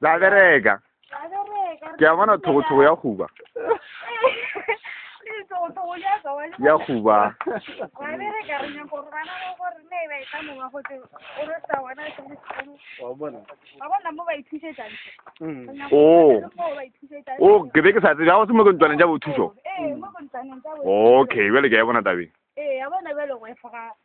la bereka ke a bona thogothogo ya goba ya goba o o ke be ke sa tsebe ga go se mo ke ntlwaneng ja bothušo okay bjale ke a e bona tabeng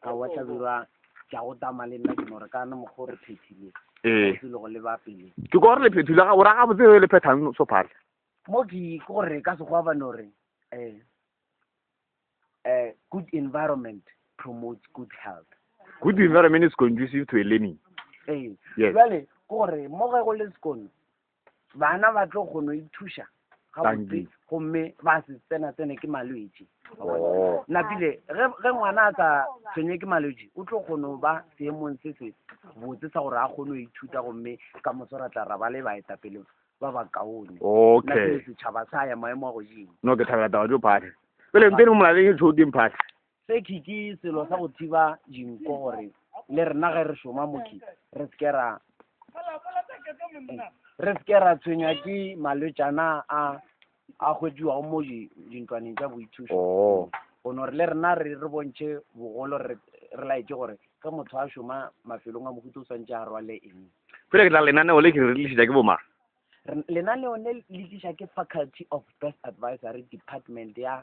a wa tlabirwa tša go tama le nna ke no re ka na mokgwa o re phethile ee ke le go leba pele ke ko re le phethile ga o ra ga botse le phethang so phale mo ke ke gore ka se go ba no re eh eh good environment promotes good health good environment is conducive to a learning ee yes. jale ke gore mo ge go le sekono bana ba tlo kgono ithuša gabotse gomme ba se tsena tsene ke malwetši oh. napile ge ngwana a sa tshwenye ke malwetši o tlo kgono ba seemong se se botse sa gore a kgone go ithuta gomme ka moso ra tla ra ba le baetapele ba ba kaone okay setšhaba sa ya maemo a godimo no ke thabela taba jo phate pele mpene o molaleng e tshoteng phate Tseki ke selo sa go thiba dinko gore le rena ge re šoma moki re se ke ra re se ke ra tshwenywa ke malwetšana a a hwetšiwago mo di- dintlwaneng tša boithušo oo go no re le rena re re bontšhe bogolo re re laetše gore ge motho a šoma mafelong a mohuta o swantše a rwale eng pele ke tla lenaneo le ke re tlišetša ke bomang Re- lenaneo le le tliša ke faculty of best advisory department ya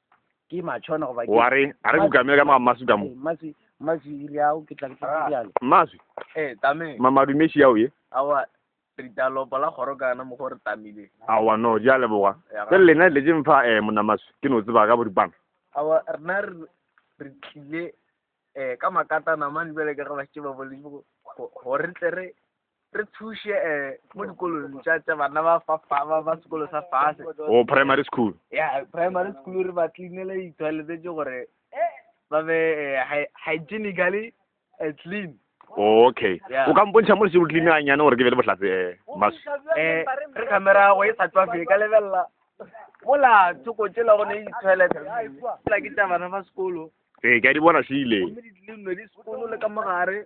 ke matšhwana goba wa re a re kukamele ka mamaswi ka mo maswi maswi ile ao ke tlang ke bjalo maswi eh tame mamadumeši yao ye awa ritalopo la goro kana mo gore tamile awa no di a leboga ke lena le je mfa eh mona maswi ke no tseba ka boripana awa rena re tlile eh ka makatana mane bjale ka ga ba tšeba bole go re tle re Re thuše mo dikolong tša tša bana ba fa fa ba ba sekolo sa fase. Oh, primary school. Yeah, primary school re ba cleanele di-toilet tše gore ba be eh, hygienically eh, clean. Oh, okay. Yeah. O ka mpontšha mo le seo clean ganyane gore ke be le bohlatse eh, mas. Eh, re camera go e sa tswa fele ka lebelela. Mola tsoko tšela go ne di-toilet. Mola ke tša bana ba sekolo. Ee, ke a di bona šile. Gomme di-clean di sekolo le ka mogare.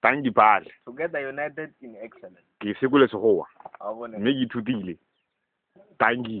Tang Dipale. Together United in Excellence. Ke sekole Sekgowa, mme ke ithutile Tangi.